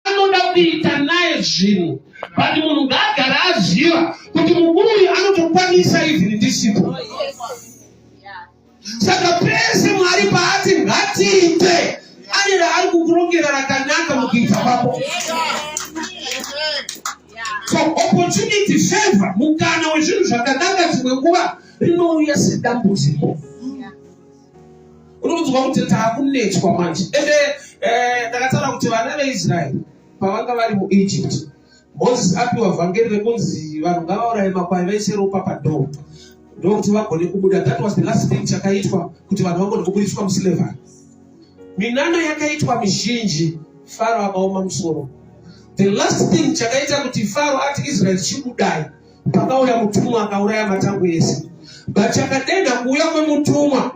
anoda kuita naye zvinhu but munhu ngaagara aziva kuti mukuru uyu anotokwanisa even ndisipo saka pese mwari paati ngatiite ane raari kukurongera rakanaka mukuita kwako so opportunity favor mukana wezvinhu zvakanaka dzimwe nguva rinouya sedambudziko unokunzwa kuti taakunetswa manje ende eh, ndakataura kuti vana veisraeri pavanga vari muegypt moses apiwa vhangeri rekunzi vanhu ngavauraye makwai vaise ropa padoo ndokuti vagone kubuda that was the last thing chakaitwa kuti vanhu vagone kubudiswa muslavery minano yakaitwa mizhinji faro akaoma musoro the last thing chakaita kuti faro ati israeri chibudai Pakauya mutumwa akauraya matangu ese. But chakadenha kuuya kwemutumwa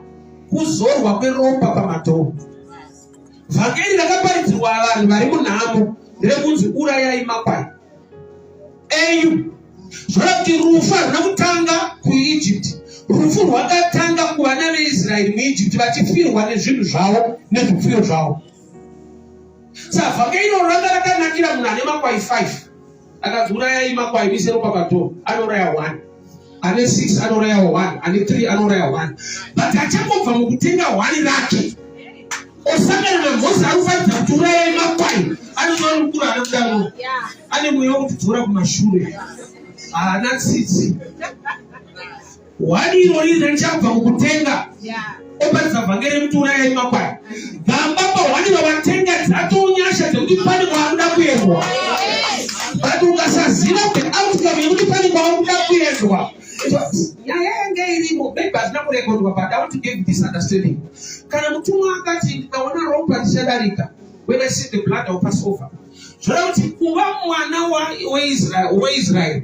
kuzorwa kweropa pamadhoo. Vhangeri rakaparidzirwa vanhu vari munhamo rekunzi urayai makwai enyu. Zvora kuti rufu haruna kutanga kuEgypt. Rufu rwakatanga kuvana veIsraeri muEgypt vachifirwa nezvinhu zvavo nezvipfuyo zvavo. Sa vhangeri iro ranga rakanakira munhu ane makwai 5. akanzi urayai makwai muise ropa padhoo anouraya one ane six anouraya one ane three anouraya one but achangobva mukutenga one rake osangana namhosi anofaridza kuti urayai makwai anozova mukuru ana mudaro ane mweya wekutidzora kumashure haana tsitsi Hwadi irori richabva mukutenga oparisa vhangeri rekuti urayai makwai gamba pahwadi vavatenga dzatonyasha dzekuti pane kwaanoda kuendwa but ukasaziva the outcome yekuti pane kwaanoda kuendwa nyaya yanga irimo maybe hazvina kurekodwa but i want to give this understanding kana mutumwa akati ndikaona ropa richadarika when i see the blood of passover zvoda kuti kuva mwana weisrael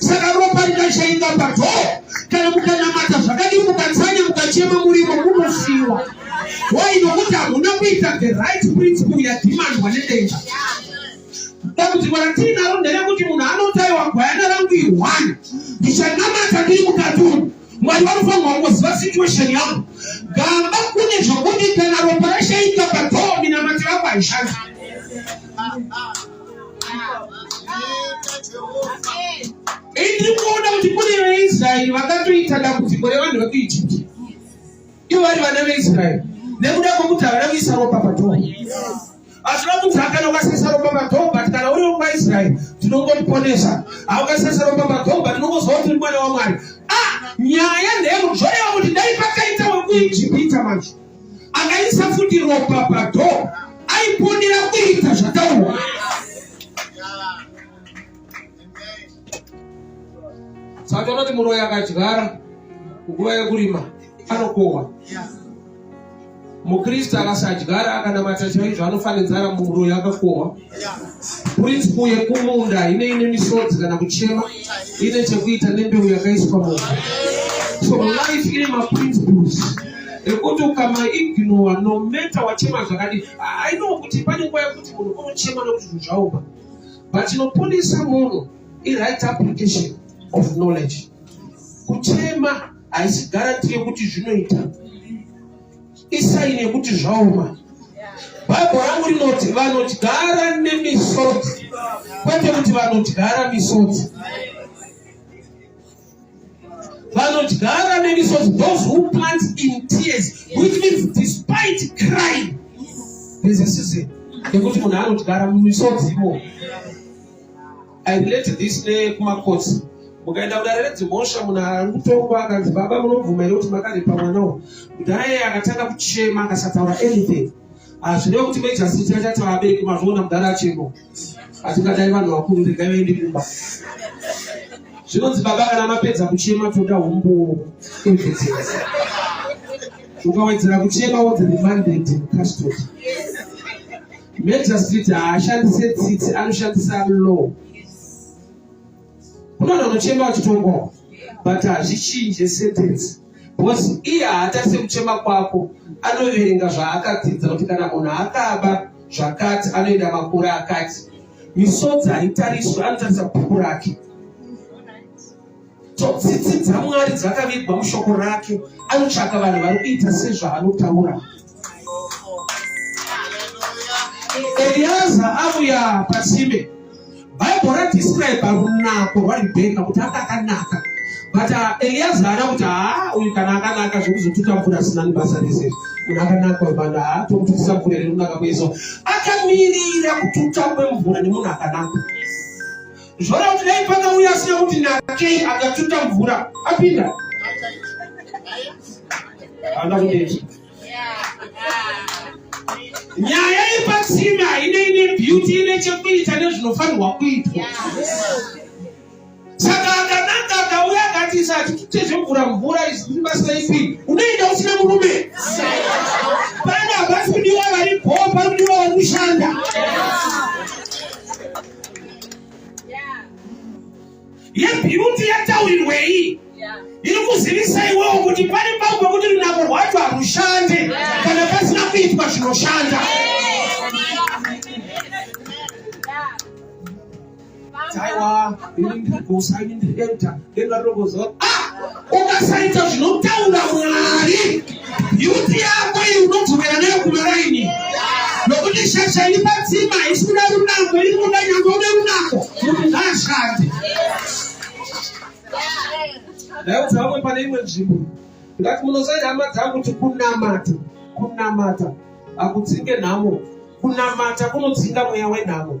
saka ropa rikachainga padhoo kana mukanamata zvakadii mukatsanya mukachema murimo munofiwa why nokuti hamuna kuita the right principle yadhimandwa nedenga dambudziko ratiinaro nderekuti munhu anotaiwa gwayana rangu ihwani ndichanamata ndiri mukaturu mwari vanofanirwa kungoziva situation yangu gamba kune zvokuti kana ropa rashaika padhoo minamatira vangu haishandi Ini kuona kuti kune veIsraeri vakatoita dambudziko revanhu vekuIjipti ivo vari vana veIsraeri nekuda kwekuti havana kuisa ropa padhoa hazvina kuti hakana ukasesa ropa padhoa but kana uri wekwaIsraeri tinongotiponesa haukasesa ropa padhoa but unongozwa kuti uri mwana waMwari ah nyaya ndeyekuzvoreva kuti dai pakaita wekuIjipita manje akaisa futi ropa pado aiponera kuita zvataurwa saka unoti muroyi akadyara nguva yekurima anokohwa mukristu akasadyara akanamata chaizvo anofanenzara muroyi akakohwa Purinsipo yekumunda ine ine misodzi kana kuchema ine chekuita nembeu yakaiswa munda. So life ine maprinciples ekuti ukamaignowa no matter wachema zvakadii. I know kuti pane nguva yekuti munhu unochema nekuti zvinhu zvaoma but inoponesa munhu iright application of knowledge. Kuchema haisi guarantee yekuti zvinoita isaini yekuti zvaoma bhaibho rangu rinoti vanodyara nemisodzi kwete kuti vanodyara misodzi vanodyara nemisodzi those who plant in tears which means despite crying there's a season yekuti munhu anodyara mumisodzi imomo I relate this nekumakotsi mukaenda kudare redzimhosva munhu ari kutongwa akanzi baba munobvuma here kuti makaripa mwana uwo mudhare akatanga kuchema akasataura anything hazvine kuti mejasiti achati vabereki mazviona mudhare achemo atingadai vanhu vakuru regai vaende kumba zvinonzi baba kana mapedza kuchema toda humbu evidence ukawedzera kuchema wodzi remanded custody Magistrate haashandise tsitsi anoshandisa law. Kunoda unochema wachitongwa but hazvichinje sentence because iye haatarise kuchema kwako anoverenga zvaakadzidza kuti kana munhu akaba zvakati anoenda makore akati misodzi haitariswe anotarisa bhuku rake Tsitsi dzaMwari dzakavigwa mushoko rake. Anotsvaka vanhu vari kuita sezvaanotaura. Eliaza avuya pasime. Bible radescribe runako rwaRibheka kuti anga akanaka. But uh, Eliaza ana kuti haa uyu kana akanaka zvekuzotuta mvura asina nibasa rese. Munhu akanaka uyu vanhu haa tomututisa mvura iri runaka kuizo. Akamirira kututa kwemvura nemunhu akanaka. Zvoda kuti dai pakauya asina kuti nakei akatuta mvura apinda ana kudeti nyaya yepatsime haine ine beauty ine chekuita nezvinofanirwa kuitwa saka akananga akauya akati sati tutezvemvura mvura izibasa ipi unoenda usina murume pana havasi kudiwa vari bho pari kudiwa vari kushanda yebeauty yataurirwei iri kuzivisa iwewo kuti pari pavo pekuti runako rwacho harushande kana pasina kuitwa zvinoshanda aiwa ini ndiri gosa ini ndiri enta ndengarogozoa ukasaita zvinotaura mwari yuti yako iyi unodzokera nayo kumaraini nokuti shasha iri padzima haisi kuda runako iri kuda nyangwe une runako kuti ngaashande ndaudza vamwe pane imwe nzvimbo ndati munosaita hama dzangu kuti kunamata kunamata hakudzinge nhamo kunamata kunodzinga mweya wenhamo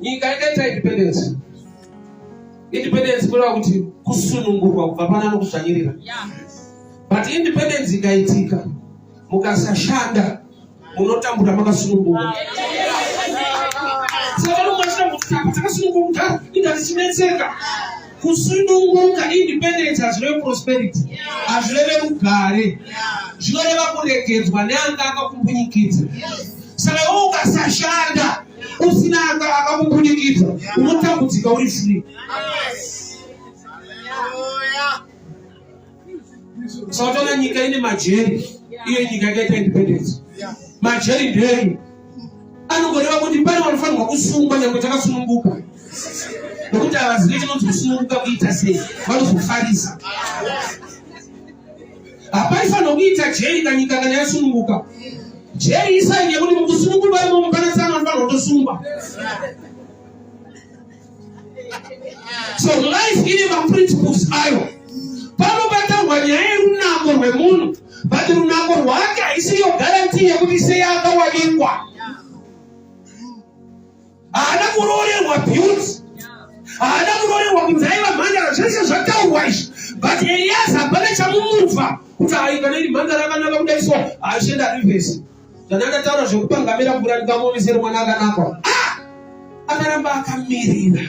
nyika yakaita independence independence kureva kuti kusunungurwa kubva pana anokuzvanyirira but independence ikaitika mukasashanda munotambura makasunungurwa saka nomwe achita kuti takasunungurwa kudhara inga zichinetseka Kusununguka, independence, hazvireve prosperity, hazvireve rugare, zvinoreva kuregedzwa neanga akakumbunyikidza. Saka iwe ukasashanda usina anga akakumbunyikidza unotambudzika uri free. Sautana nyika ine majeri, iyo nyika yakaita independence. Majeri ndeyi anongoreva kuti pane vanofanirwa kusungwa nyange takasununguka nokuti havazive chinonzi kusununguka kuita sei vanozofarisa hapaifanirwa kuita jeri kanyika kana yasununguka jeri isaini yekuti mukusununguka imomo pana tsana vanofanirwa kutosungwa so life ine maprinciples ayo panobatarwa nyaya yerunako rwemunhu but runako rwake haisiriyo garantii yekuti sei akawanikwa haana kuroorerwa beauty haana kuroorerwa kunzi aiva mhandara zvese zvataurwa izvi but elias hapana chamumubva kuti ayi kana iri mhandara akanaka kudai so haishenda rivesi ah, zvandandataura zvekupangamira mvura ndikamuvisira mwana akanakwa ah! akaramba akamirira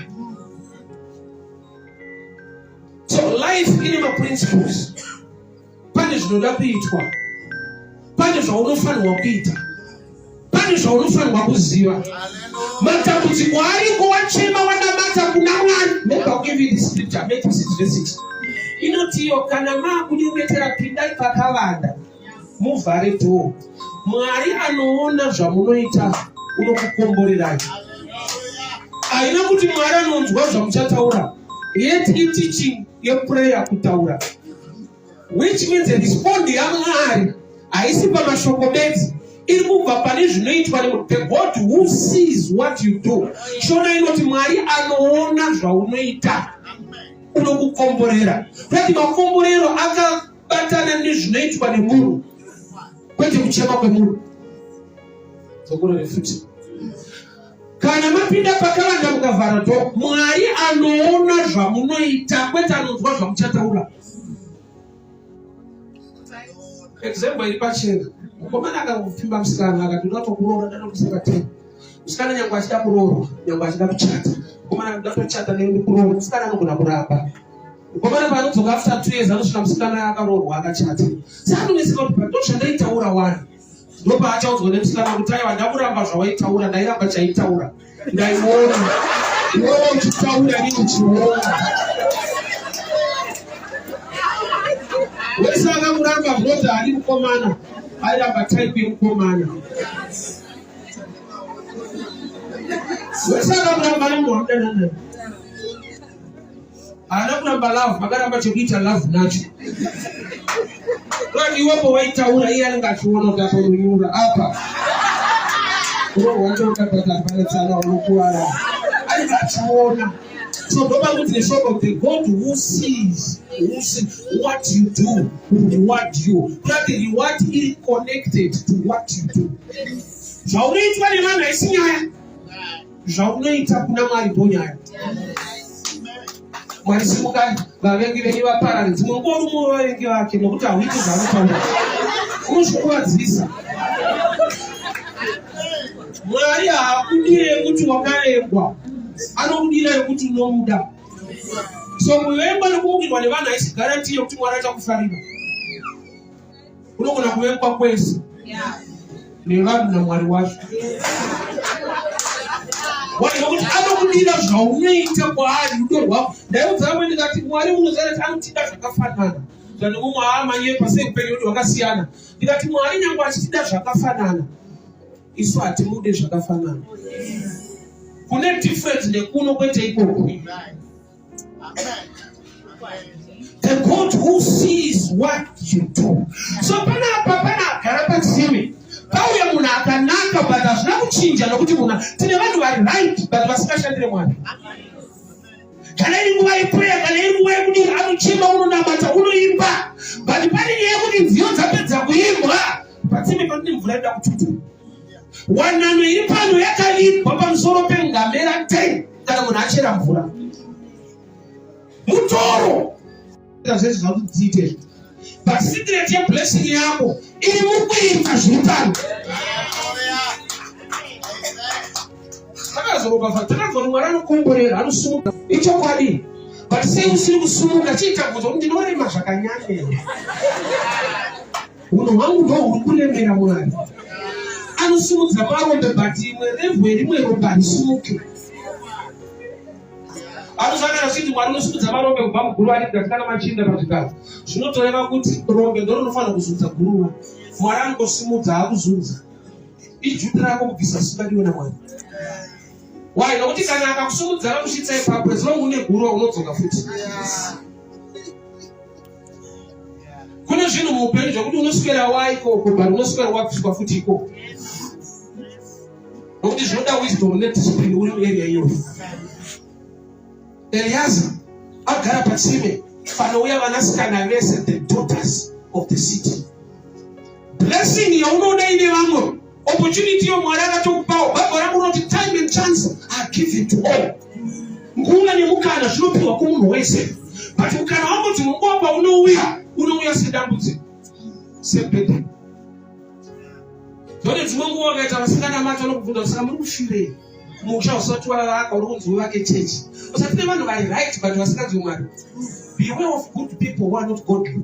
so life ine maprinciples pane zvinoda kuitwa pane zvaunofanirwa kuita pane zvaunofanirwa kuziva matambudziko ariko wachema wanamata kuna mwari nebakuvindiscripture metisidvesiti inotiyo kana maakunyengetera pindai pakavanda muvhare dhoo mwari anoona zvamunoita unokukomborerai haina kuti mwari anonzwa zvamuchataura let iteaching yeprayer kutaura which means respond yamwari haisi pamashoko bedzi iri kubva pane zvinoitwa the god who sees what you do shona inoti mwari anoona zvaunoita unokukomborera kuti makomborero aka Batana nezvinoitwa nemunhu kwete kuchema kwemunhu. Zokurore futi. Kana mapinda pakavanda mukavhara dho, Mwari anoona zvamunoita kwete anonzwa zvamuchataura. Example iri pachena. Mukomana akangopfimba musikana akati unoda kuroora dada kusaka tena. Musikana nyangwe achida kuroorwa, nyangwe achida kuchata. Mukomana akati unoda kuchata nekuroora, musikana anogona kuramba. Ukomana paanodzoka after two years anosvika musikana akaroorwa akachata. Saka anonetseka kuti pa ndozvandaitaura wani. Ndopaachaudzwa nemusikana kuti aiwa ndakuramba zvawaitaura ndairamba chaitaura. Ndaiona. Iwewe uchitaura nini uchiona. Wese akamuramba brother ari mukomana. Airamba type yemukomana. Wese akamuramba ari mukomana. haana kuramba love vakaramba chokuita love nacho kati iwepo waitaura iye anenge achiona kuti apa unyura apa unohwatokatatabharatsana unokuwara anenge achiona so ndoba kuti neshoko the god who sees who see what you do will reward you kati reward iri connected to what you do zvaunoitwa nevanhu haisi nyaya zvaunoita kuna mwari bonyaya mwari simukai vavengi venyu vaparare dzimwe nguva rumwe wevavengi vake nokuti hauiti zvaanotaura unozvikuvadzisa mwari haakudire yekuti wakarengwa anokudira yekuti unomuda so kuvengwa nekumukirwa nevanhu haisi garanti yekuti mwari achakufarira kunogona kuvekwa kwese nevanhu namwari wacho wanokuti anokudira zvaunoita kwaari rudo rwavo ndaiudza vamwe ndikati mwari unozara ti anotida zvakafanana zvani umwe aamanye pasei kupenyu kuti wakasiyana ndikati mwari nyange achitida zvakafanana isu hatimude zvakafanana kune difference nekuno kwete ikoko The God who sees what you do. So pana apa pana agara patsime pauya munhu akanaka but hazvina kuchinja nokuti munhu tine vanhu vari right but vasingashandire mwari kana iri nguva yepureya kana iri nguva yekuti anochema unonamata unoimba but pane nyaya yekuti nziyo dzapedza kuimbwa patsime panoti mvura ida kututu wanano iri pano yakavigwa pamusoro pengamera 10 kana munhu achera mvura mutoro zvese zvakudziite but secret yeblessing yako iri mukuita zviri pano akazoroka fatanazoni mwana anokomborera anosumuka ichokwadi but sei usiri kusumuka chiita bvunzo kuti ndinorema zvakanyanya Hunhu hwangu ndo huri kuremera Mwari. Anosimudza marombe but imwe revhu yerimwe rombe harisimuke. Anosangana kuti Mwari unosimudza marombe kubva muguruva ane mukati kana machinda pazvigaro. Zvinotoreva kuti rombe ndo rinofanira kuzunza guruva. Mwari anongosimudza akuzunza. Ijuti rako kubvisa simba ndiwe naMwari. Why? Nokuti kana akakusimudza anokushitsa ipapo as long une guruva unodzoka futi. Yeah. kune zvinhu muupenyu zvekuti unoswera waiko uko but unoswera wabviswa futi iko nokuti zvinoda wisdom nediscipline uri muarea iyoyo eliaza agara patsime panouya vanasikana vese the daughters of the city blessing yaunoona ine vamwe Opportunity iyo Mwari akatokupawo. Bhaibheri rangu rinoti time and chance are given to all. Nguva nemukana zvinopiwa kumunhu wese. But mukana wangu kuti munguva paunouya unouya sedambudziko. Sebhedha. Zvone dzimwe nguva ukaita vasikana macho anokubvunza kusaka muri kufirei? Musha usati wavaka uri kunzi uvake chechi. Usati nevanhu vari right but vasinganzwi Mwari. Beware of good people who are not godly.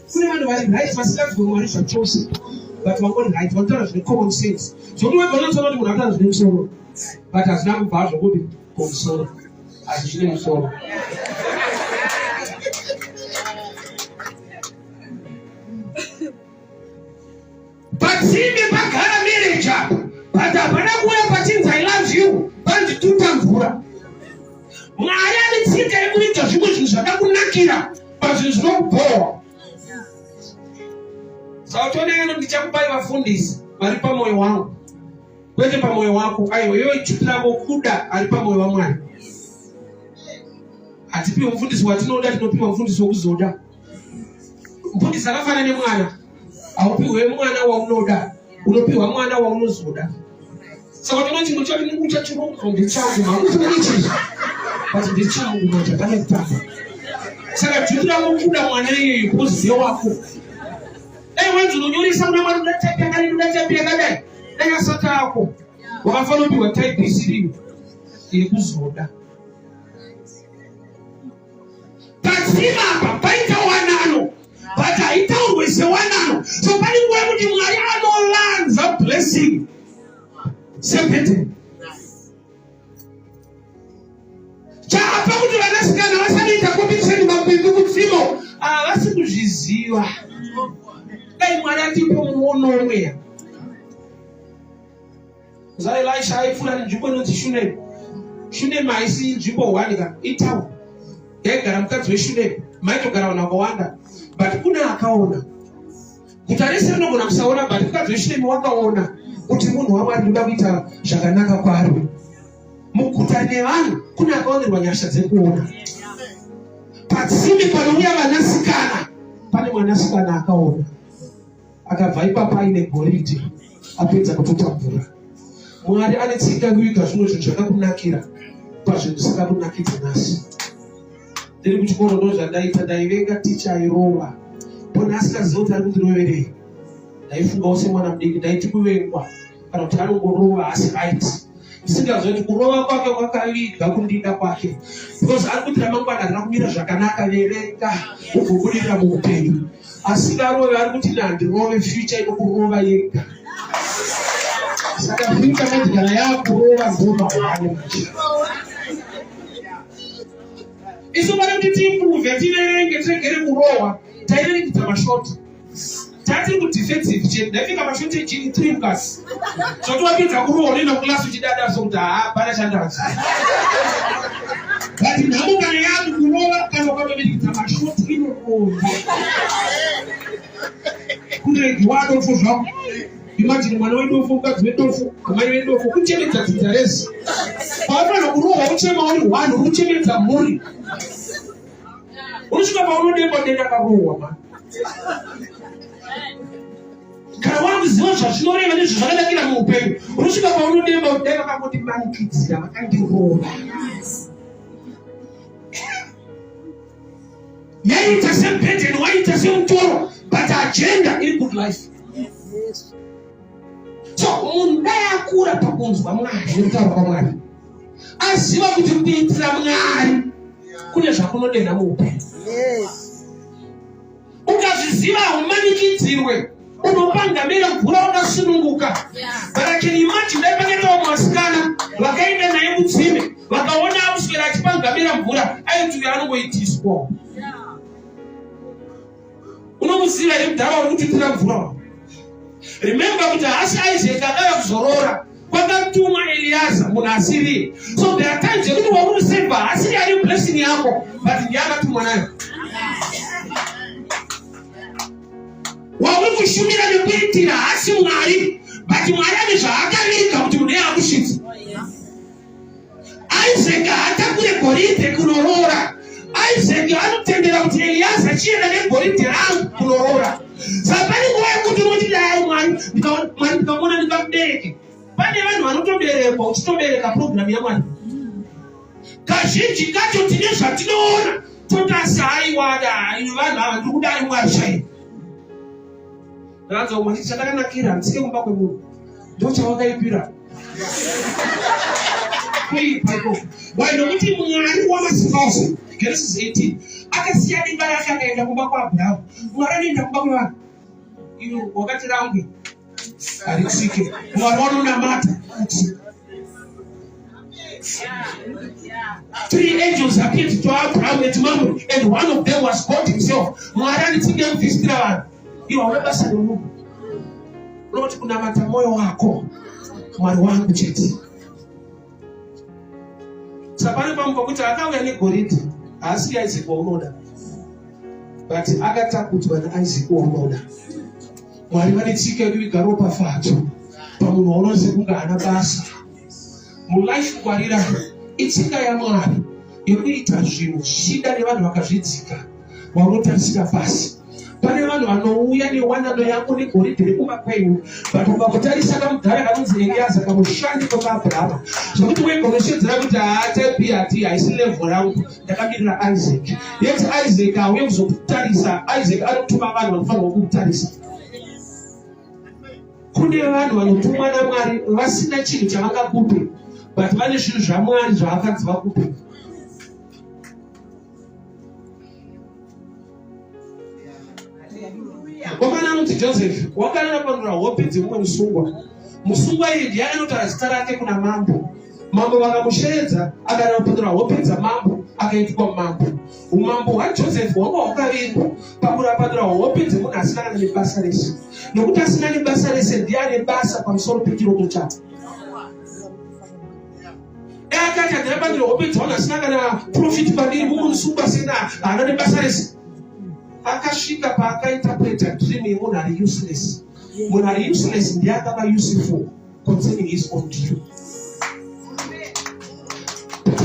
kune vanhu vari right vasingati kwemwari zvachose but vangori right vanotaura zvine common sense zvokuti wega unotsona kuti munhu ataura zvine musoro but hazvina kubva zvokuti komusoro asi zvine musoro Patsimbe pagara marriage apo but hapana kuuya pachinzi I love you pandituta mvura. Mwari ane tsika yekuita zvimwe zvinhu zvakakunakira pazvinhu zvinokubhowa. Sautoneno ndichakupai vafundisi vari pamoyo wangu kwete pamoyo wako aiwa iwe chipiravo kuda ari pamoyo wamwari hatipiwe mufundisi watinoda tinopiwa mufundisi wokuzoda Mbuti dzakafana nemwana, haupiwe mwana waunoda, unopiwa mwana waunozoda. Saka unoona chimwe chacho chinenge uchachironga ndechangu, hauti uichizvo but ndechangu manje pane kutamba. Saka dzviti rako kuda mwana iyoyo kuziye wako. Dai wenzi unonyoresa kuna mwari unoda type yakadai, unoda type yakadai, dai asati ako wakafanira kupiwa type isiriyo yekuzoda. Padzima apa paita wanano but haitaurwe sewanano so pane nguva yekuti mwari anolanza blessing sepete chaapa kuti vanasikana vasanoita competition mabindu kutsimo havasi kuzviziva dai mwari atipo muono mweya zvaelisha aipfuura nenzvimbo inonzi shunemu shunemu haisi nzvimbo one ka itown yaigara mukadzi weshunemu maitogara vanhu vakawanda but kune akaona guta rese rinogona kusaona but mukadzi weshunemu wakaona kuti munhu wamwari ndoda kuita zvakanaka kwari muguta nevanhu kune akaonerwa nyasha dzekuona patsime panouya vanasikana pane mwanasikana akaona akabva ipapa aine goridhe apedza kutotambura mwari ane tsika kuita zvimwe zvinhu zvakakunakira pazvinhu zvisakakunakidza nhasi ndiri kuchikoro ndo zvandaita ndaivenga ticha airova pona asikaziva kuti ari kundiroverei ndaifungawo semwana mudiki ndaiti kuvengwa kana kuti anongorova asi right ndisingazive kuti kurova kwake kwakaviga kundida kwake because ari kuti ramangwana rina kumira zvakanaka verenga ugobudirira muupenyu asingarove ari kuti nandirove future inokurova yega saka future madigara yakurova zoma hwani machira isu vana kuti tiimbuve tiverenge tiregere kurohwa tairerekita mashoti tati kudefensive chete ndaika mashotejini three plus zvoti wapedza kurowa unoenda kuclass uchidada so kuti haa pana chandaza but nhamo kana yati kurova kana ukatoverekidza mashoti inokomba kuregiwado fo zvako imajini mwana wedofo mukadzi wedofo amai wedofo kuchemedza dzidza rese paanofanira kurohwa uchema uri one uri kuchemedza mhuri unosvika paunodemba denda kakurohwa ma kana wakuziva zvazvinoreva nezvo zvakanakira muupenyu unosvika paunodemba kudai vakangoti manikidzira vakandirova yaiita sebhedheni waiita semutoro but agenda iri good life so munhu dai akura pakunzwa mwari nekutaura kwamwari aziva kuti kuitira mwari kune zvakunodenha muupenyu ukazviziva haumanikidzirwe unopanga mira mvura wakasununguka barakeni imati dai pakaitawo mwasikana vakaenda naye mutsime vakaona akuswera achipanga mira mvura aiti uyo anongoitiswa unomuziva here mudhara uri kutindira mvura remembe kuti hasi isaac adava kuzorora kwakatuma eliyaza munhu asiriye so there are times yekuti wakumuseva hasiri ari blessing yako but ndiye akatumwa nayo wauri kushumira nekuitira hasi mwari but mwari ane zvaakaviga kuti munhu yakusvitsa Isaac haatakure goridhe kunoroora. Isaac anotendera kuti Eliaza chienda negoridhe rangu kunoroora. Saka pane nguva yekuti unoti dai Mwari Mwari ndikamuona ndingamubereke. Pane vanhu vanotoberekwa uchitobereka purogiramu yaMwari. Kazhinji kacho tine zvatinoona totasi haiwada vanhu ava ndiri kudai Mwari chaiye. Ndakadzoka kumba ndichiti chandakanakira handisike kumba kwemunhu ndochawakaipira kuipa ikoko why nokuti mwari wamasimba ose genesis 18 akasiya dimba rake akaenda kumba kwaabhurahamu mwari anoenda kumba kwevanhu iwe wakati rangwe harisike mwari wanonamata kuti Three angels appeared to Abraham and to Mamre, and one of them was God Himself. Mwari anitsinge mufisitira vanhu ivo hauna basa nemunhu unoti kunamata mwoyo wako mwari wangu chete sapane pamwe pakuti akauya negoridhe haasi yaizekwa unoda but akatakudzwa naisaac waunoda mwari vane tsika yekuviga ropafadzo pamunhu waona sekunge haana basa mulife kungwarira itsika yamwari yekuita zvinhu zvichida nevanhu vakazvidzika vaunotarisira pasi pane vanhu vanouya newanano yako negoridhe rekuba kwenyu but ukakutarisa kamudhara kanonzi eliyaza kamushandi kwemaabrahama zvekuti wegoreshedzera kuti haatepi hati haisi levho rangu ndakamirira isaac yet isaac hauye kuzokutarisa isaac anotuma vanhu vanofanirwa kukutarisa kune vanhu vanotumwa namwari vasina chinhu chavangakupe but vane zvinhu zvamwari zvaakanzi vakupe Mukomana anonzi Joseph wakanga akapanura hope dzemumwe musungwa. Musungwa iyi ndiye anotaura zita rake kuna mambo. Mambo vakamusheedza akada kupanura hope dzamambo akaitwa mambo. Umambo hwaJoseph hwanga hwakavingwa pakurapanura hope dzemunhu asina kana nebasa rese. Nokuti asina nebasa rese ndiye ane basa pamusoro pechiroto chake. akati andiramba ndiri hope dzaona asina kana profit pandiri mumwe musi ubasina haana nebasa rese akasvika paakainterpreta dream yemunhu ari useless munhu ari useless ndiye akava useful concerning his own dream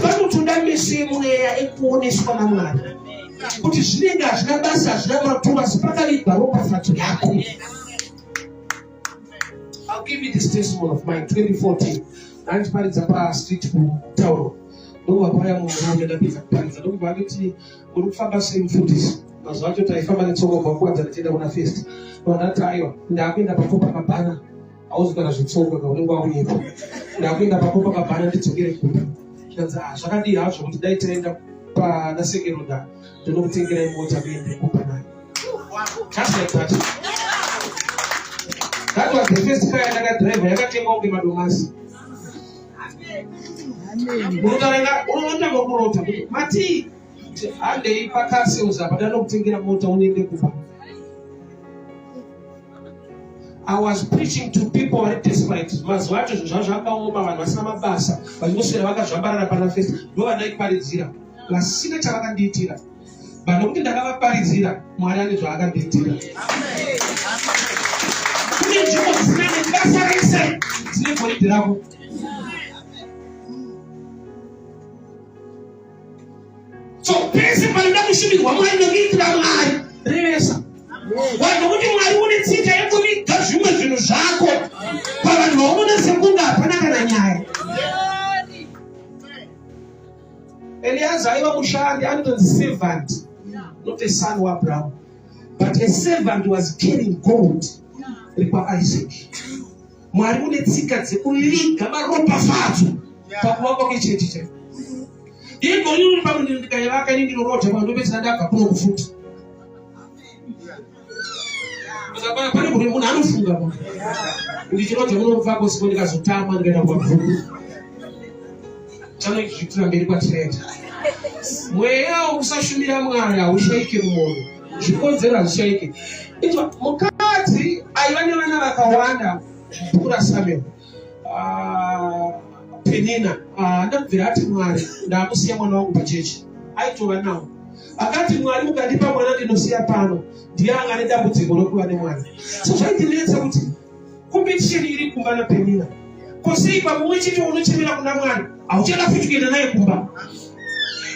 vanotoda meso yemweya ekuoneswa namwari kuti zvinenge hazvina basa hazvina maturo asi pakavigwa ropafadzo yako I'll give you this testimony of mine 2014 ndandiparidza pastreet kutauro ndokubva paya munhu wangu ndapedza kuparidza ndokubva anditi uri kufamba sei mufundisi mazuva acho taifamba netsongo bva kuwadza ndichienda kuna fest ndandati aiwa ndakuenda pako pakabhana auzikana zvetsongo ka unenge wakuyepo ndakuenda pako pakabhana ndidzokere kumba zvikanzi ah, zvakadii hazvo kuti dai taenda pana sekeroda ndinokutengerai mota kuende kumba nayo Touch your touch. That was the first car that driver yakatengwa kunge madomasi. Unotarenga unotanga kurota kuti mati handei pakasi uzapa danokutengera mota unoende kuba. I was preaching to people vari desperate. Mazuva acho zvinhu zvavo zvakaoma vanhu vasina mabasa vachingoswera vakazvambarara pana fesi ndovandaiparidzira vasina chavakandiitira. but nokuti ndakavaparidzira mwari ane zvaakabhidhira kune nzvimbo dzisina nebasa rese dzine goridhi rako so pese panoda kushumirwa mwari nekuitira mwari revesa vanhu kuti mwari une tsika yekuviga zvimwe zvinhu zvako pavanhu vaunoona sekunge hapana kana nyaya Eliezer aiva mushandi anotonzi servant not a son waAbraham but a servant was carrying gold rekwaIsaac mwari une tsika dzekuviga maropafadzo pakuvakwa kwechechi chaipo igonyunyupa mundindikaivaka ini ndinorota pano ndopedzisira ndabva kuno kufuti Akabara pane kune munhu anofunga munhu. Ndichinoda munobva kosiko ndikazotama ndikaenda kwabvuku. Chano kuitira mberi kwatireta. Mweya wokusashumira Mwari haushaike mumoyo. Zvikonzero hazvishaike. Mukadzi aiva nevana vakawanda mvura Samuel. ah, penina ah, andabvira ati mwari ndakusiya mwana wangu pachechi aitova nawo akati mwari mukandipa mwana ndinosiya pano ndiye anga nedambudziko rokuva nemwana so zvaindinetsa kuti kompetisheni iri kumba napenina kosei pamwe chete unochemera kuna mwari hauchada futi kuenda naye kumba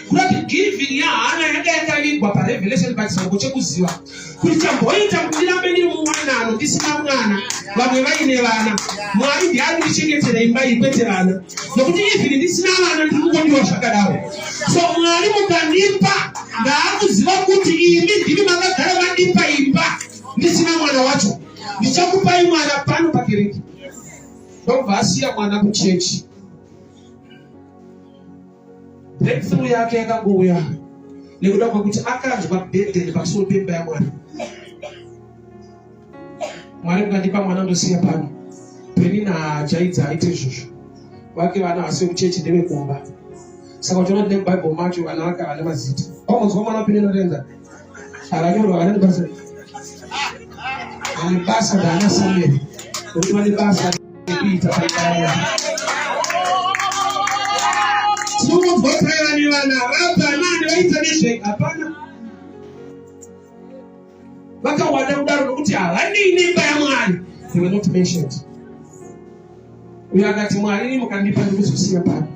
Kurati giving yaHana yanga yakavigwa paRevelation pachisauko chekuziva kuti chamboita kuti ndirambe ndiri muwanano ndisina mwana vamwe vaine vana mwari ndiari ndichengetera imba iyi kwete vana nokuti even ndisina vana ndiri kungondiwa zvakadaro so mwari mukandipa ndaakuziva kuti imi ndimi makagara mandipa imba ndisina mwana wacho ndichakupai mwana pano pakereke ndokubva asiya mwana kuchechi breakthrough yake yakangouya nekuda kwekuti akanzwa burden pamusoro pemba yamwari mwari mukandipa mwana ndosiya pano penina ajaidza aite izvozvo vake vana vasi vekuchechi ndevekumba saka uchiona tine mubible macho vana vake havana mazita paunzwa mwana penina renda akanyorwa kana basa ane basa ndaana samuel kuti vane basa rekuita paikaya tinombotayani vana vapanani vaita nezve hapana vakawanda kudaro nokuti havanei nemba yamwari they were not mentioned uyo akati mwari ini mukandipa ndikuzosiya pano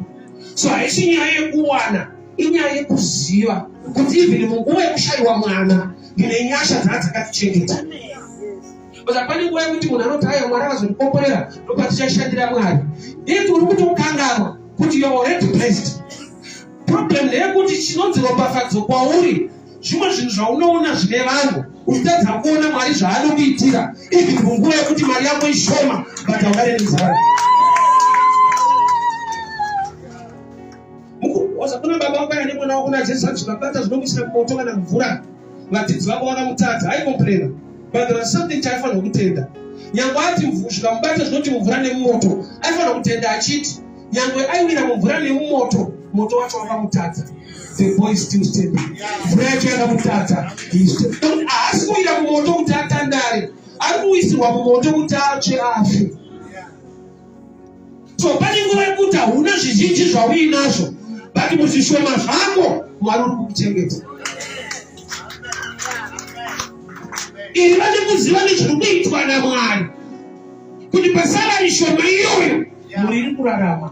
so haisi nyaya yekuwana inyaya yekuziva kuti even munguva yekushayiwa mwana ndine nyasha dzaa dzakatichengeta bcause hapane nguva yekuti munhu anoti aya mwari akazondikomborera ndopatichashandira mwari iti uri kutokanganwa kuti youalready blessed problem ndeyekuti chinonzi ropafadzo kwauri zvimwe zvinhu zvaunoona zvine vanhu uchitadza kuona mwari zvaanokuitira ivi kunguva yekuti mari yako ishoma but haungare nenzara kuna baba wako ane mwana wako najesu vati zvakabata zvinokuisira kumoto kana mvura vadzidzi vako vakamutadza aikomplena but there was something chaifanira kutenda nyange ati zvikamubata zvinoti mvura nemumoto aifanira kutenda achiti nyangwe aiwira mumvura nemumoto moto wacho wakamutadza the boy still step mvura yacho yakamutadza haasi kuwira mumoto kuti atandare ari kuwisirwa mumoto kuti atsve afe so pane nguva yekuti hauna zvizhinji zvauinazvo but muzvishoma zvako mwari uri kukuchengeta iri vane kuziva nezviri kuitwa namwari kuti pasava ishoma iyoyo muriri kurarama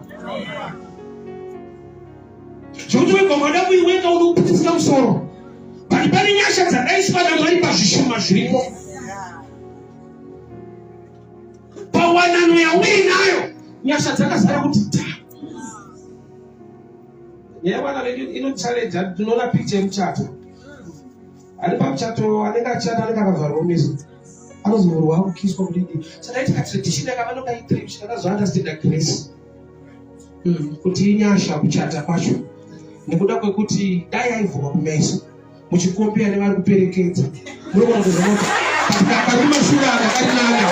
zvekuti wega wada kuiweka unokupitisira musoro but pane nyasha dzakaiswa namwari pazvishoma zviripo pawanano yauinayo nyasha dzakazara kuti ta yaiwana vedu inochaledza tinoona picha yemuchato Ani pamuchato anenge achishanda anenge akavharwa meso. Anozovhurwa akukiswa kudidi. Saka ita tradition yakavano kai tradition akazoanda stenda grace. Mm, kuti inyasha kuchata kwacho. Nekuda kwekuti dai aivhurwa kumeso. Muchikompea nevari kuperekedza. Muri kuona kuti zvinoti. Akarima shura akarinana.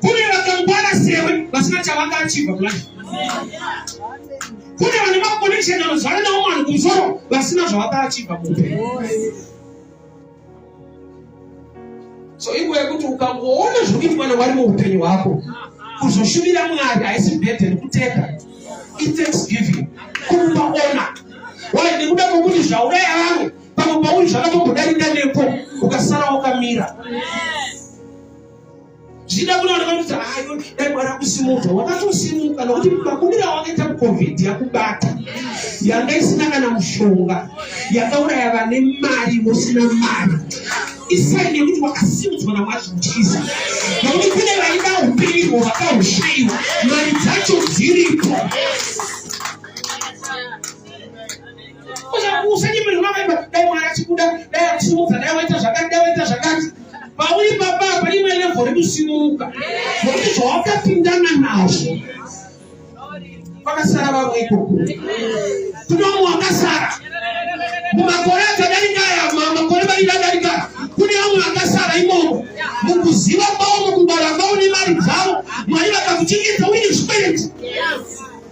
kune vakangwara sewe vasina chavanga achibva kudai kune vane makoneksheni anozvana nawo mwanhu kumusoro vasina zvavanga achibva muupenyu so inguva yekuti ukangoona zviri kuitwa newari muupenyu hwako kuzoshumira mwari haisi bhedheni kuteka ithanksgiving kumupa ona wai nekuda kwokuti zvauraya vamwe pamwe pauri zvakatombodarika nepo ukasara wakamira yes. zvichida kunooneka kuti hayo dai mwari akusimuka wakatosimuka nokuti makumira wakaita mucovid yakubata yanga isina kana mushonga yakauraya vane mari vosina mari isaini yekuti wakasimudzwa namwari zvinotyisa nokuti kune vaida upenyu vakaushaiwa mari dzacho dziripo usanyimiri unavaimba dai mwana achikuda dai akusimudza dai waita zvakati dai waita zvakati pauri baba apa imwe levo rekusimuka zvokuti zvawakapindana nazvo vakasara vavo ikoko kunomu wakasara mumakore akadarika aya makore mairi adarika kune vamwe vakasara imomo mukuziva kwavo mukubara kwavo nemari dzavo mwari vakakuchengeta uine zvikwereti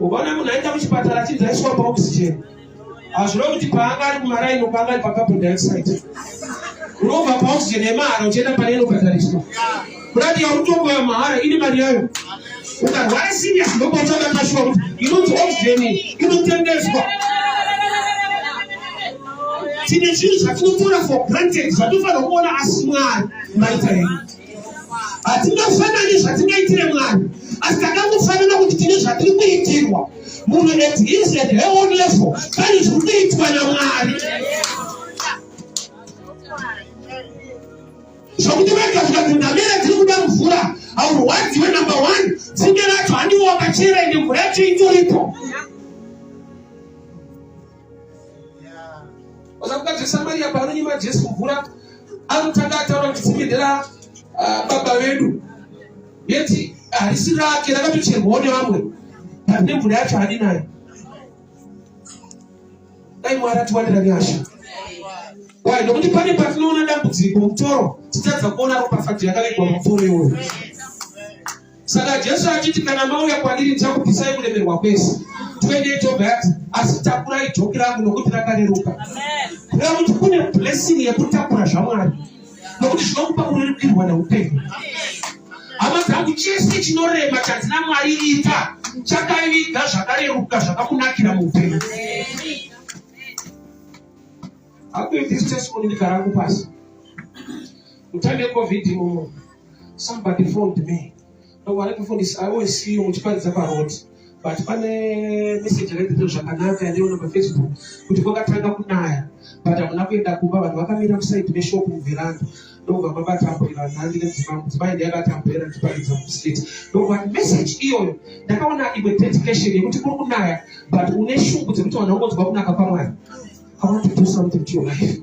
ukaona munhu aenda kuchipatara achinzi aiswa paoxygen hazvino kuti paanga ari kumaraini paanga ari pacarbon dioxide unobva paoxygen yemahara uchienda pane inobhadhariswa kurati yautongo yamahara ine mari yayo ukarwara serious ndopatsvaka kashuwa kuti inonzi oxygen inotengeswa tine zvinhu zvatinotora for granted zvatofanira kuona asi mwari maita henyu hatingafanani zvatingaitire mwari asi takangofanana kuti tine zvatiri kuitirwa munhu at his at her own level pane zviri kuitwa namwari zvokuti vega zvikanzi ndamera tiri kuda mvura haurwadziwe number one tsinge racho handiwo wakachera ende mvura yacho itoripo Wazakuta Samaria paanonyima Jesu mvura anotanga ataura kuti tsime ndera ah, baba vedu yeti harisi rake rakatocherwawo nevamwe pane mvura yacho hadi nayo dai mwari atiwanira nyasha wai nokuti pane patinoona dambudziko mutoro titadza kuona ropafadzo yakavigwa mumvura iwoyo saka jesu achiti kana mauya kwandiri ndichakubvisai kuremerwa kwese 28 of that asi takurai joki rangu nokuti rakareruka kureva kuti kune blessing yekutakura zvamwari nokuti zvinokupa kurerukirwa neupenyu hama dzangu chese chinorema chadzina mwari ita chakaiviga zvakareruka zvakakunakira muupenyu akuitisi testimony ndikarangu pasi utambe covid mumo somebody phoned me ndokuwana kufundisa i always see you muchiparidza paroad but pane message yakaitito zvakanaka yandiona pafacebook kuti kwakatanga kunaya but hamuna kuenda kumba vanhu vakamira musaidi meshop muveranda ndokubva mabatambura nhandi nedzimambo dzimai ndiyakatambura ndichiparidza mustreet ndokuva message iyoyo ndakaona imwe dedication yekuti kuri kunaya but une shungu dzekuti vanhu vangonzwa kunaka kwamwari i want to do something to your life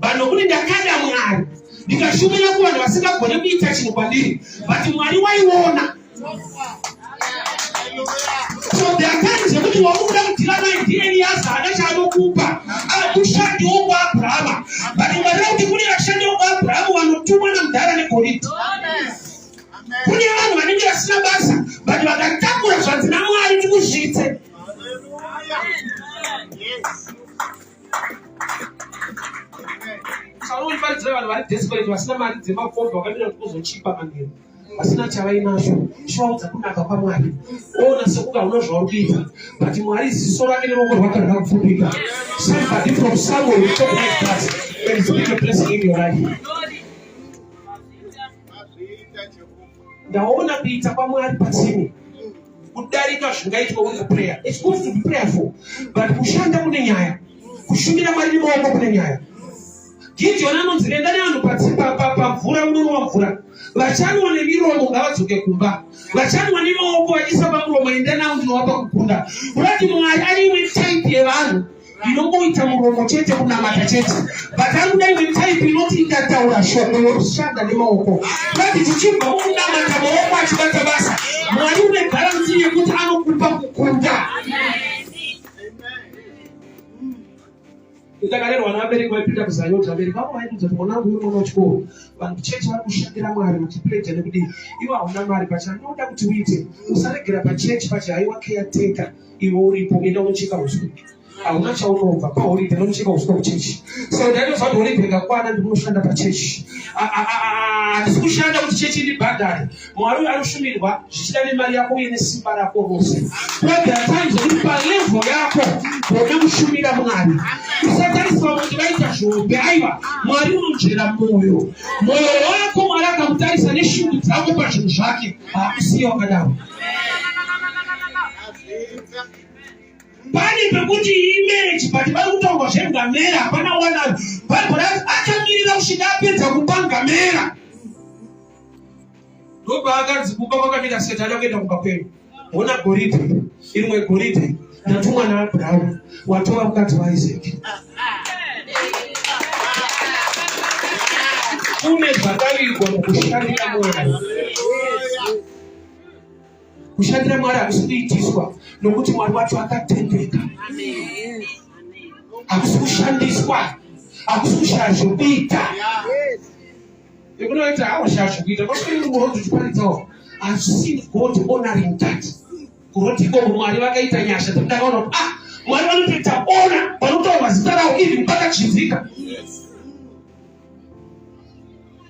vanhu kuti ndakada mwari ndikashumira kuvanhu vasingagone kuita chinhu kwandiri but mwari waiona so there are times yekuti wakuda kudhira naye ndiye eliyaza haana chaanokupa akushandiwo kuabrahama but mwari vakuti kune vashandiwo kuabrahama vanotumwa namudhara negoridhi kune vanhu vanenge vasina basa but vakatakura zvanzi namwari tikuzvitse Shalom pari driver vari desperate vasina mari dzemakombi vakamira kuti kuzochipa manheru vasina chavainacho chivaudza kunaka kwamwari ona sekuti hauna zvauri kuita but mwari ziso rake neruoko rwake rakapfupika somebody from somewhere will talk like that and speak a blessing in your life ndaona kuita kwamwari pasini kudarika zvingaitwa uri kupreya its good to be prayerful but kushanda kune nyaya kushumira mwari nemaoko kune nyaya gidhioni anonzi renda nevanhu pamvura unonwa mvura vachanwa nemiromo ngavadzoke kumba vachanwa nemaoko vachiisa pamuromo enda navo ndinovapa kukunda kurati mwari aiwe type yevanhu ndinongoita muromo chete kunamata chete but anguda imwe type inoti ikataura shoko yorushanda nemaoko but tichibva mukunamata maoko achibata basa mwari une garanti yekuti anokupa kukunda ndakalerwa nevabereki vaipinda kuzayoti vabereki vavo vaibudza kuti mwana wangu uyu mwana wechikoro vanhu kuchechi vari kushandira mwari muchipredha nekudii ivo hauna mari pacha ndinoda kuti uite usaregera pachechi pachi haiwa keya teka iwe uripo enda unocheka uswa hauna chaunobva paholiday unocheka uswa kuchechi so ndainozva kuti holiday ngakwana ndikunoshanda pachechi handisi kushanda kuti chechi ndibhadhare mwari uyo anoshumirwa zvichida nemari yako uye nesimba rako rose kodhatai zvekuti palevo yako gone kushumira mwari usatariswa kuti vaita zvobe aiva mwari unonzvera mwoyo mwoyo wako mwari akamutarisa neshungu dzako pazvinhu zvake hakusiya wakadaro pane pekuti imereji but vari kutaurwa zvengamera hapana wana bhaibheri achamirira kusvika apedza kupa ngamera ndobaakanzi kumba kwakamira setani akuenda kumba kwenyu hona goridhe irimwe goridhe ndatumwa naabrahamu watova mukadzi waiseki kune zvakavirwa mukushandira mwana kushandira mwari hakusi kuitiswa nokuti mwari wacho akatendeka hakusi kushandiswa hakusi kushaya zvokuita ekunoita hakushaya zvokuita kwakuiurozi tiparidzawo i've seen god honoring that kuroti ikoko mwari vakaita nyasha dzekuti akaona kuti ah mwari vanotoita ona vanotaurwa zita ravo even pakachinzika yes.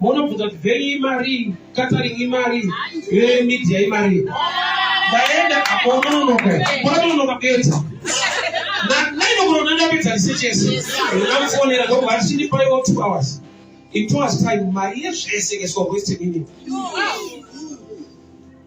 Munobvunza kuti venyu imari, catering imari, eh, media imari. Ndaenda apo unononoka, unononoka beta. Naino kunoona ndapedza research yese. Ndinamufonera ndokubva ati chindipaiwo two hours. In two hours time mari yezvese ikaiswa Western Union.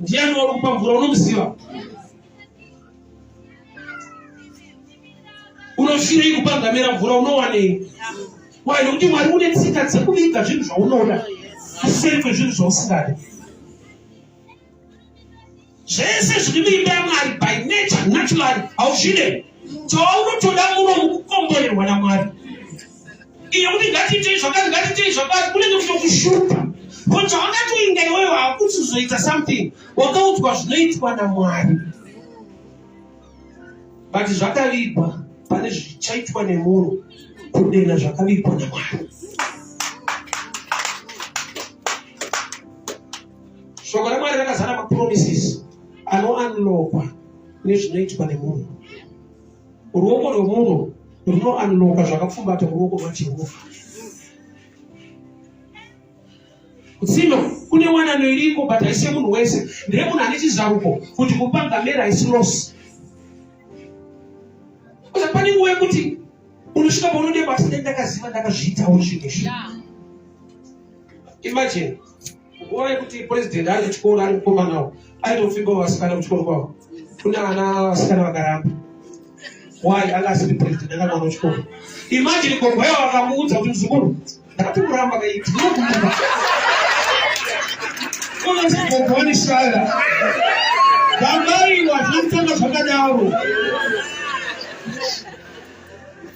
ndiani wari kupa mvura unomuziva unofirei kupa ngamera mvura unowanei wai nokuti mwari une tsika dzekuviga zvinhu zvaunoda kuseri kwezvinhu zvausingadi zvese zviri muimba yamwari by nature naturally hauzvide chawaunotoda muno mukukomborerwa namwari iyo kuti ngatiitei zvakati ngatiitei zvakati kunenge kutokushupa ko chawakatoinda iweyo hakuti uzoita something wakaudzwa zvinoitwa namwari but zvakavigwa pane zvichaitwa nemunhu kudena zvakavigwa namwari shoko ramwari rakazara mapromises anoanlokwa nezvinoitwa nemunhu ruoko rwemunhu runoanlokwa zvakapfumbata muruoko rwajehovha kutsino kune wanano iriko but haise munhu wese ndire munhu ane chizaruko kuti kupanga mera haisi losi kuza pane nguva yekuti unosvika paunodeba asi ndakaziva ndakazviitawo zvinhu izvi imagine nguva yekuti president ari kuchikoro ari kukomanawo aitofimbawo vasikana kuchikoro kwavo kuna ana vasikana vakaramba why anga asiri president anga mwana wechikoro imagine kongwayo akamuudza kuti mzukuru ndati kuramba kaiti ndinokuuza unonzi gogoni shaya vangaiwa zvinotanga zvakadaro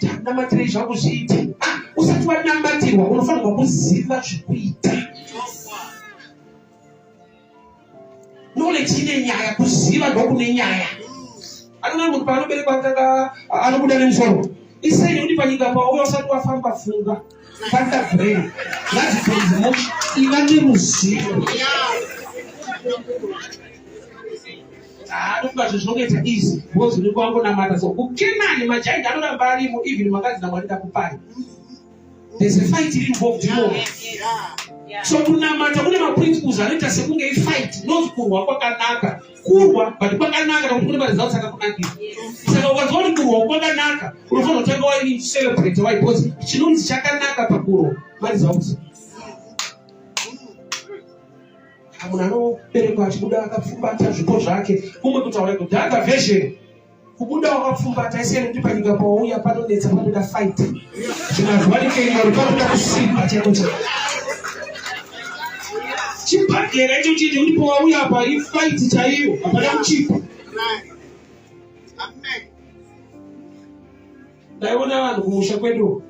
tanamatirei zvangu zviite ah, usati wanamatirwa unofanirwa kuziva zvekuita nolechi ine nyaya kuziva ndokune nyaya anona munhu paanoberekwa atanga anobuda nemusoro isei uri panyika pawo uyo usati wafamba funga Fanta brain ngazvipedze mo iva neruzivo haadokubazve zvinongoita easy bcoz unenge wangonamata so kukenani machainda anoramba arimo even makadzi namwari ndakupai there's a fight iri involved imo so kunamata kune maprinciples anoita sekunge ifight not kurwa kwakanaka kurwa but kwakanaka nokuti kune maresults akakunakira saka ukanzwa kuti kurwa kwakanaka unofanira kutanga waicelebrate wai because chinonzi chakanaka pakurwa maresults munhu anoberekwa achibuda akapfumbata zvipo zvake kumwe kutaura kudhaka version kubuda wakapfumbata ese nekuti panyika pawauya panonetsa panoda fight zvinazwanikeiori panoda kusimba chaiko chaiko chibhagera icho chiti kuti pawauya apa ifight chaiyo hapana kuchipa ndaiona vanhu kumusha kwedu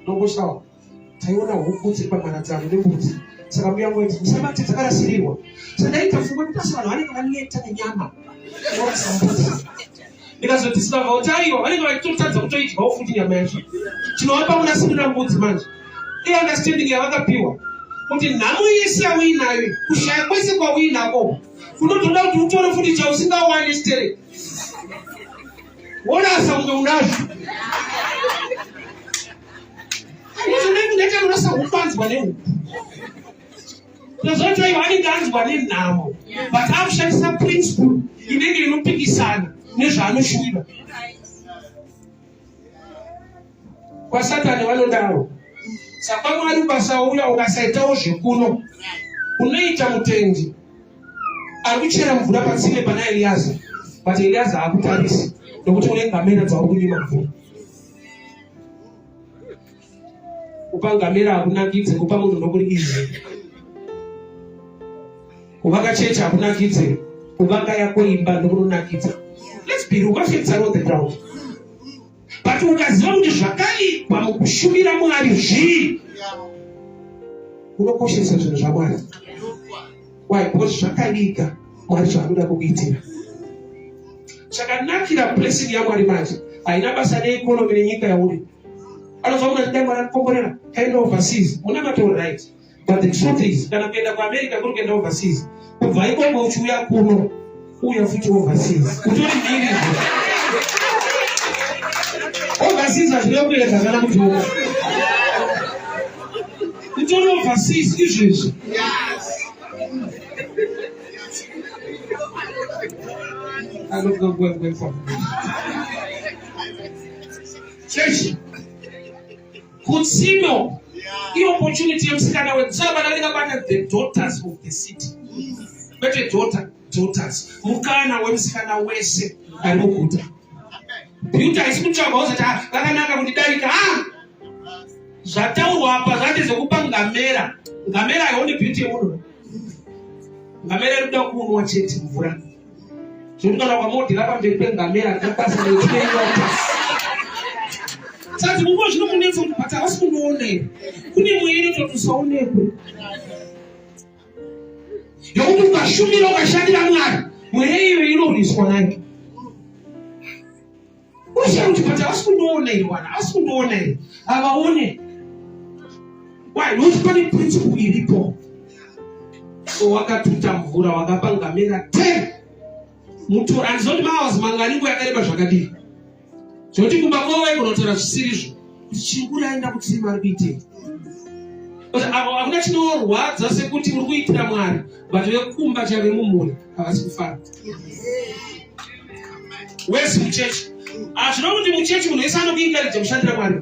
ndongoshawa taiona huku dziri pamharadzano nembudzi saka mbuya ngo iti musabate dzakarasirirwa sandaita fungwa kuti asi vanhu vanenge vaneta nenyama orasa mbudzi ndikazoti sikavawo taiwa vanenge vachitotadza kutoidyawo futi nyama yacho tinovapa kunasirira mbudzi manje iunderstanding yavakapiwa kuti nhamo yese yauinayo kushaya kwese kwauinako kunotoda kuti utore futi chausingawani stere worasa kunge unazvo anosahupanzwa nehuku tozoti ivo anenge anzwa nenhamo but akushandisa principle inenge inopikisana nezvaanoshuvira kwasatani vanodaro saka mwari ukasauya ukasaitawo zvekuno unoita mutendi ari kuchera mvura patsime pana eliyaza but eliyaza haakutarisi nokuti une ngamera dzauri kunyima mvura kupa ngamera hakunakidze kupa munhu nokuri izvi kuvaka chechi hakunakidze kuvaka yako imba ndokunonakidza let's be real mafekts are on the ground but ukaziva kuti zvakaitwa mukushumira mwari zvii unokoshesa zvinhu zvamwari why because zvakaviga mwari zvaanoda kukuitira chakanakira blessing yamwari manje haina basa neekonomi nenyika yauri anozoona kuti dai mwari anikomborera kaenda overseas muna matoro right but the truth is kana kuenda kuamerica kuri kuenda overseas kubva ikoko uchiuya kuno uya futi overseas kutori nini overseas hazvina kuenda kana kutoka kutori overseas izvezvi chechi kutsino iopportunity yemusikana wetsava nanekabata the daughters of the city kwete daughter daughters mukana wemusikana wese ari muguta beauty haisi kutsvagwa wozati ah, vakanaka kuti darika a ah! zvataurwa apa zvati zvekupa ngamera ngamera haione beauty yemunhu ngamera iri kuda kuunwa chete mvura zvekuti kana kwamodhira pamberi pengamera ndapasa nekuiwatasi sati munguva zvino munetsa kuti bhata hausi munoonei kune mweya inototusaonekwe yokuti ukashumira ukashandira mwari mweya iyo inorwiswa nayo uziva kuti but havasi kundiona iri wana havasi kundiona iri havaone why nokuti pane principle iripo so wakatuta mvura wakapangamira ten mutora andizondi mawazi manganingo yakareba zvakadii zvekuti kumba kwavo vaigona kutaura zvisirizvo kuti chikuri aenda kutii mari kuitei hakuna chinorwadza sekuti uri kuitira mwari but vekumba chave mumhuri havasi kufara wesi muchechi hazvino kuti muchechi munhu wese anokuingaridza kushandira mwari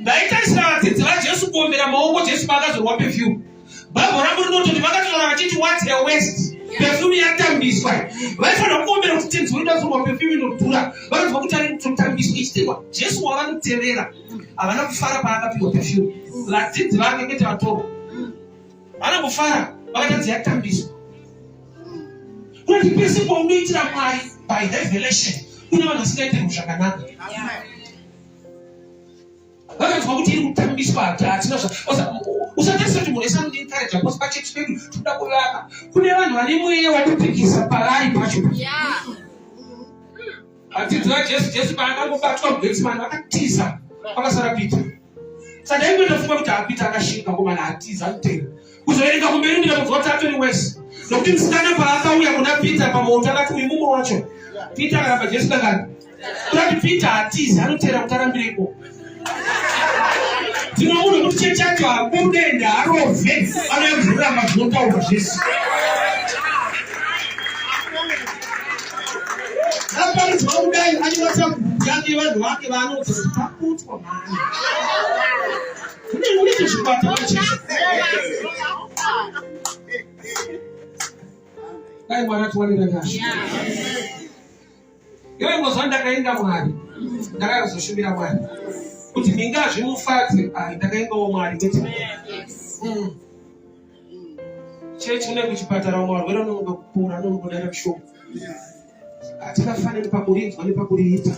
ndaitarisira vadzidzi vajesu kuombera maoko jesu paakazorwa pefyumu bhaibho rangu rinototi vakatotaura vachiti wat a west pefyumu yatambiswa vaifanira kuombera kuti tenzi wedu azorwa pefyumu inodhura vanoziva kuti ari kutotambiswa ichitirwa jesu wavanotevera havana kufara paakapiwa pefyumu vadzidzi vake ngete vatorwa vana kufara vakatadzi yatambiswa kuti pese paunoitira mwari by revelation kune vanhu vasingaitiri zvakanaka vakanzwa kuti iri kutambiswa hatina usatarisa kuti munhu esandiencouraja bcause pachechi pedu tinoda kuvaka kune vanhu vane mweya watopikisa pavari pacho vadzidzi vajesu jesu paakangobatwa mugetsimani vakatiza vakasara pita saka ingoita funga kuti apita akashinga komana atiza kutera kuzoverenga kumberi ndira kunzwa kuti atori wese nokuti musikana paakauya kuna peter pamoto akati uyu mumwe wacho peter akaramba jesu kakani kurati peter hatizi anotera kuti arambireko dzimwe munhu kuti chechi yacho hakudenhe harove anoyamvurira mazvinotaura zvese aparidzwa kudai anyoratira kubuku yake vanhu vake vaanodza kuti pakutwa mani dai mwari atiwanira nyasha iwe ngozuva ndakainda mwari ndakazoshumira mwari kuti ndingazvimufadze ai ndakaingawo mwari kuti mm. chechi une kuchipatara umwe varwere unomuka kupora unomuka kudaira kushoma hatikafanani pakurinzwa nepakuriita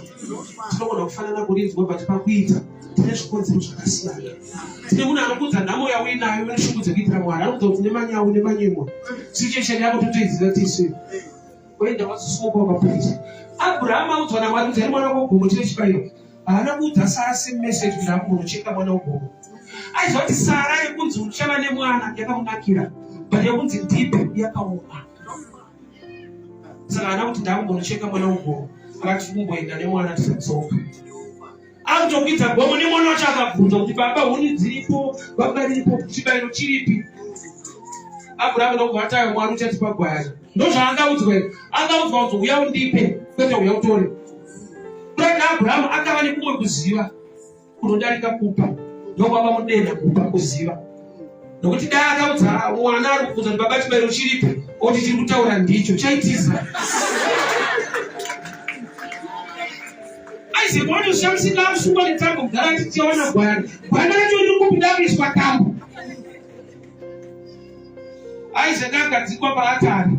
tinogona kufanana kurinzwa but pakuita tine zvikonzero zvakasiyana tine munhu anokuudza nhamo yauinayo neshungu dzekuitira mwari anokuudza kuti nemanyawu nemanyimwa situation yako totoiziva tisu oenda wazosumuka wakapuisa abraham audzwa namwari kuti ari mwana wogomo chine chibairo haana kuudza sara same message kuti akunocheka mwana wogomo aiziva kuti sara yekunzi uchava nemwana yakamunakira but yekunzi ndipe yakaoma saka ana kuti ndakumbonocheka mwana ugomo akati kumboenda nemwana tisadzoka akutokwidza gomo nemwana wacho akabvunza kuti baba huni dziripo baba riripo chibairo chiripi abrahama ndokuvatayo mwari uchatipa gwayana ndozvaangaudzwa angaudzwa kuti uya undipe kwete uya utore kurati abrahama akava nekumwe kuziva unodarika kupa ndokwava mudeda kupa kuziva nokuti dai akaudza mwana ari kubvunza kuti baba chibairo chiripi oti chiri kutaura ndicho chaitiza aizegona ushamisika amusungwa netambo kugara tichiona gwana gwana racho riri kubuda kuiswa tambo aizega agadzikwa paatari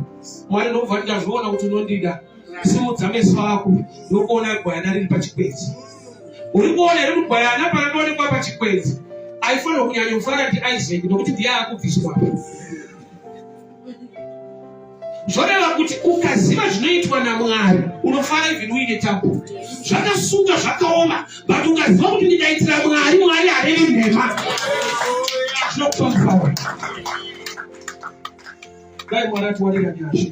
mwari ndobva ndikazviona kuti unondida simudza meso ako ndokuona gwayana riri pachikwenzi uri kuona iri mugwayana parakaonekwa pachikwenzi aifanirwa kunyanya kufara ndiisaac nokuti ndiye akubviswa zvoreva kuti ukaziva zvinoitwa namwari unofara even uine tabu zvakasuka zvakaoma but ukaziva kuti ndikaitira mwari mwari harevi nhema zvinokupa mufaro dai mwari atiwanira nyasha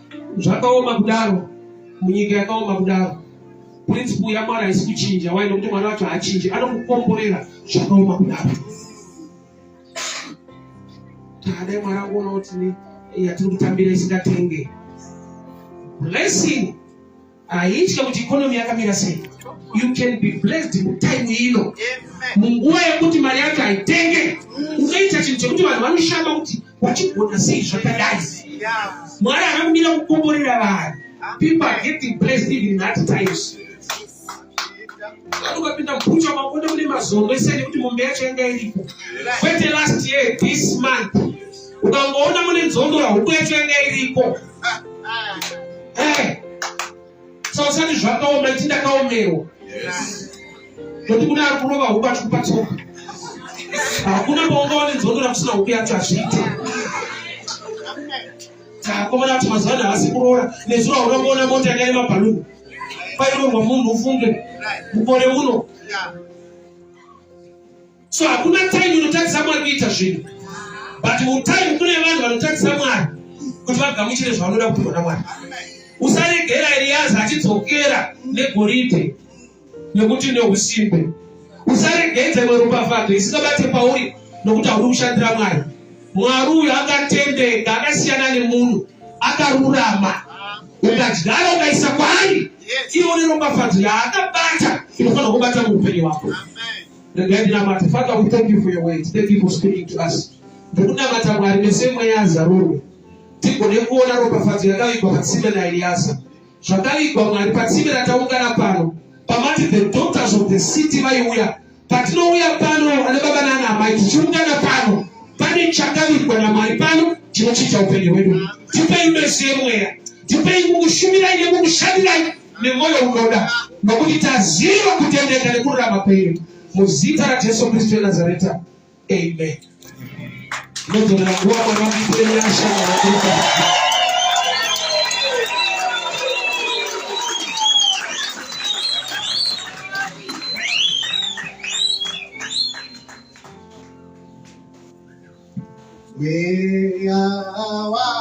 zvakaoma kudaro munyika yakaoma kudaro principle yamwana haisi kuchinja wai nokuti mwana wacho haachinji anokukomborera zvakaoma kudaro takadai mwana kuona kuti yatiri kutambira isingatenge blessing haitye kuti ikonomi yakamira sei you can be blessed mutime ino munguva yekuti mari yacho haitenge unoita chinhu chekuti vanhu vanoshamba kuti wachigona sei zvakadai mwari akakumira kukomborera vanhu people are getting blessed even that times ukapinda mubhucha makonde kune mazondo ese nekuti mombe yacho yanga iripo kwete last year this month ukangoona mune nzondora huku yacho yanga iriko eh, sausani zvakaoma ichi ndakaomerwa noti kune ari kurova huku achikupa tsoka hakuna paungawa nenzondora kusina huku yacho hazviite takomana kuti mazuva ano havasi kuroora nezuro haunangoona mota yanga ine mabhaluni pairorwa munhu ufunge mukore uno so hakuna time inotadzisa mwari kuita zvinhu but utime kune vanhu vanotadzisa mwari kuti vagamuchire zvavanoda kupihwa namwari usaregera eriyazi achidzokera negoridhe nekuti neusimbe usaregedze mweropafadho isingabate pauri nokuti hauri kushandira mwari mwari uyu akatendeka akasiyana nemunhu akarurama ukadyara ukaisa kwaari iwo neropafadzo yaakabata inofanira kubata muupenyu wako regai ndinamate father we thank you for your words thank you for speaking to us ndikunamata mwari mese mweya azarurwe tigone kuona ropafadzo yakavigwa patsime naeliyasa zvakavigwa mwari patsime rataungana pano pamati the daughters of the city vaiuya patinouya pano ana baba nana amai tichiungana pano pane chakavigwa namwari pano chinochiita upenyu hwedu tipei mese mweya tipei mukushumirai nemukushandirai nemwoyo unoda nokuti taziva kutendeka nekururama kwenyu muzita rajesu kristu wenazareta amen nodzoka nguva mwana wakupenyasha Where are